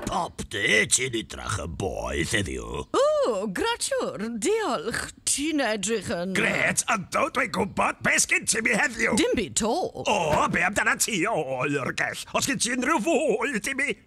Pop dy ti'n idrach yn boeth heddiw. O, gratiwr, diolch. Ti'n edrych yn... Gret, yndw, dwi'n gwybod. Be sgyn ti mi heddiw? Dim byd to. O, be amdana ti, o oergell? Os gyn ti unrhyw fwyd i mi?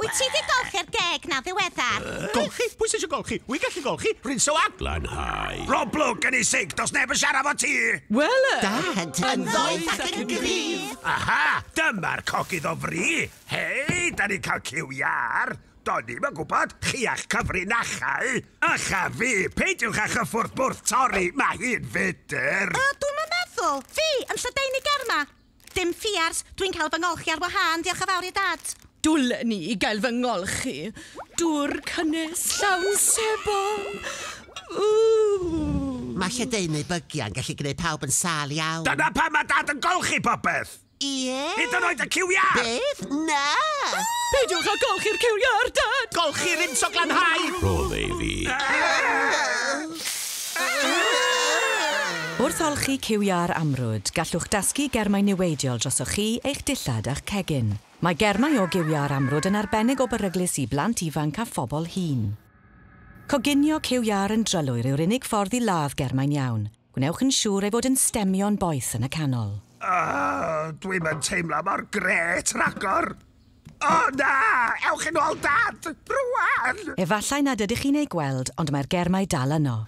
Wyt ti 'di golchi'r geg 'na ddiweddar? Golchi? Pwy sy isio golchi? Wi'n gallu golchi! Rinso a. Glanhau. Rob Lwc yn ei sic, does neb yn siarad 'fo ti! Wel yy! Dad! Yn ddoeth ac yn gryf! Aha! Dyma'r cogydd o fri! Hei! Da ni'n cael cyw iâr! Do'n ni'm yn gwybod! Chi a'ch cyfrinachau! Ych a fi! Peidiwch â chyffwrdd bwrdd torri! Mae hi'n fudr! Yy, dwi'm yn meddwl! Fi! Yn lledaenu ger 'ma! Dim ffiars, dwi'n cael fy ngolchi ar wahân, diolch yn fawr i'r dad! Dwlen i gael fy ngolchi. Dŵr cynnes llawn sebon! Ww! Mae lledaenu bygiau yn gallu gwneud pawb yn sâl iawn. Dyna pam mae Dad yn golchi popeth! Ie? Hyd yn oed y cyw iâr! Beth? Na! Peidiwch â golchi'r cyw iâr, Dad! Golchi'r Ints o Glanhau! Rhodd e i fi. Wrth olchi ciwiau'r amrwd, gallwch dasgu germau niweidiol drosoch chi, eich dillad a'ch cegin. Mae germau o giwiau'r amrwd yn arbennig o beryglus i blant ifanc a phobl hŷn. Coginio ciwiau yn drylwyr yw'r unig ffordd i ladd germau'n iawn. Gwnewch yn siŵr ei fod yn stemio'n boeth yn y canol. Ugh, dwi'm yn teimlo mor grêt rhagor! O na! Ewch yn ôl, Dad! Rwan! Efallai nad ydych chi'n eu gweld, ond mae'r germau dal yno.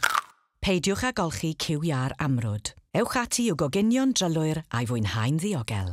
Peidiwch â golchi cyw iâ'r amrwd. Ewch ati i'w goginio'n drylwyr a'i fwynhau'n ddiogel.